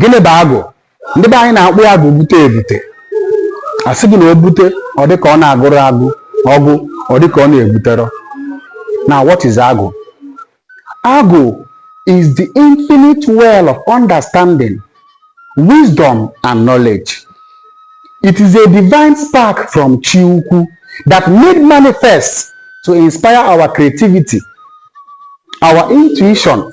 gịnị bụ agwụ ndị be anyị na-akpọ ya agwụ bute ebute a sị gị na o bute ọ dị ka ọ na-agwụrọ agwụ ọ gwụ ọ dị ka ọ na-ebuterọ now what is agwụ agwụ is the infinite well of understanding wisdom and knowledge it is a divine spark from chi ukwu that made manifest to inspire our creativity our intuition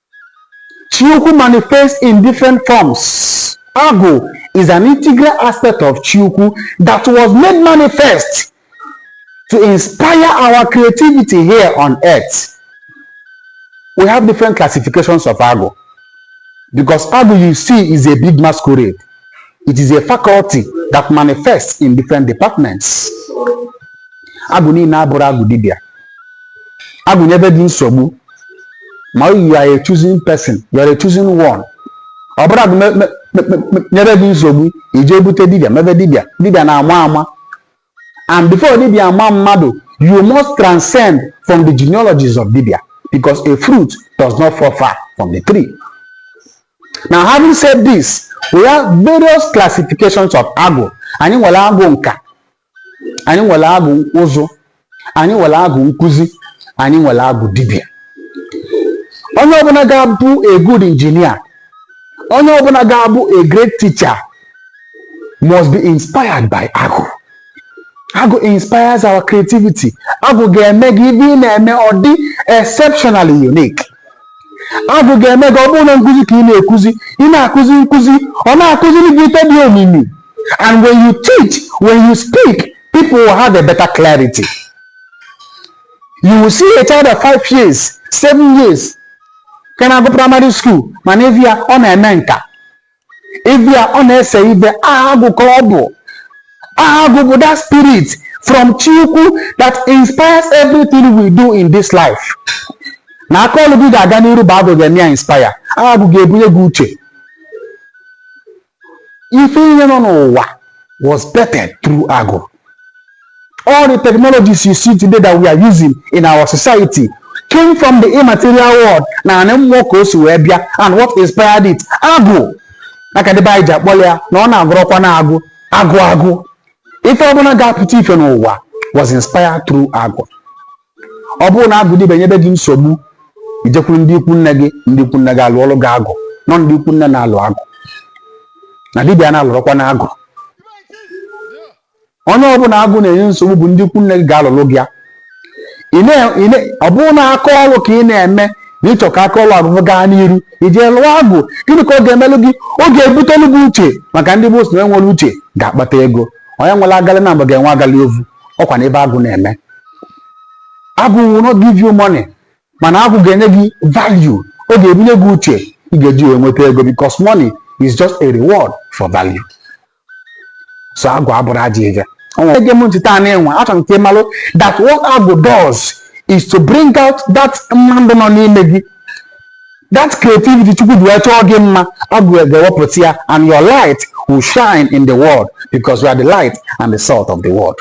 Chiukwu manifests in different forms. Agwụ is an integral aspect of Chiukwu that was made manifest to inspire our creativity here on earth. We have different classifications of Agwụ because Agwụ you see is a big masquerade. It is a faculty that manifests in different departments. Agwụ niine abụrọ agwụ dibịa. Agwụ nyebe gị nsogbu ma you are a chosen person you are a chosen one ọ bụrụ agwụ nyebe gị nsogbu i je bute dibịa mebe dibịa dibịa na-ama ama and before dibịa ama mmadụ you must transcend from the genealogies of dibịa because a fruit does not fall far from the tree now having said this we have various classifications of agwụ anyị nwere agwụ nka anyị nwere agwụ ụzụ anyị nwere agwụ nkụzi anyị nwere agwụ dibịa onye ọbụla ga-abụ a good engineer onye ọbụla ga-abụ a great teacher must be inspired by agwụ agwụ inspires our creativity agwụ ga-eme gị ife ị na-eme ọ dị exceptionally unique agwụ ga-eme gị ọ bụrụ na nkụzi ka ị na-ekuzi ị na-akụzi nkụzi ọ na-akụziri gị ife dị omimi And when you teach, when you speak, people will have a better clarity. You will see a child of five years, seven years, can I go primary school? Man, if you are on a menka, if you are on a say, if you are go club, ah, go that spirit from Chukwu that inspires everything we do in this life. na aka ọlụ gị ga-aga n'iru bụ agụ ga-eme ya inspire agụ ga-ebunye gị uche ife niine nọ n'ụwa was birthed through agwụ all the technologies you see today that we are using in our society came from the immaterial world na anị mmụọ ka o si wee bịa and what inspired it agwụ maka ndị be anyị ji akpọrọ ya na ọ na-agwụrọkwa na agwụ agwụ agwụ ife ọbụla ga-apụta ife n'ụwa was inspired through agwụ ọ bụrụ na agwụ dibịa nyebe gị nsogbu i jekwuru ndị ikwu nne gị ndị ikwu nne gị alụọlụ gị agwụ na ọ ndị ikwu nne na-alụ agwụ na dibịa na-alụrọkwa na agwụ onye ọbụla agwụ na-enye nsogbu bụ ndị ikwu nne gị ga-alụlụ gị ya Ị na- ị na- ọ bụrụ na aka ọrụ ka ị na-eme na ị chọ ka aka ọrụ gị gaa n'iru i je lụọ agwụ gịnị ka ọ ga-emelụ gị ọ ga-ebutelu gị uche maka ndị igbo sị na e nwere uche ga-akpata ego onye nwere agalị na mgbe ga-enwe agalị ovu ọkwa na ife agwụ na-eme agwụ will not give you money mana agwụ ga-enye gị value ọ ga-ebunye gị uche ị ga-eji wee nweta ego because money is just a reward for value so agwụ abụrọ ajọ ife ege m ntị taa na-enwe achọrọ m ka ị malụ that what agwụ does is to bring out that mmadụ nọ n'ime gị That creativity Chukwu ji wee chọọ gị mma, Agwụ ga-ewepụta ya and your light will shine in the world because you are the light and the salt of the world.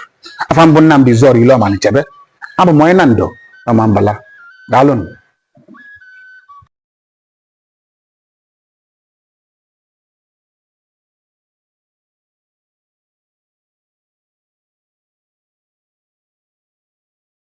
Afa m bụ Nnamdi Zoro Ile Ọmanichebe, abụ m onye Nando Ọmambala. Daalụnụ.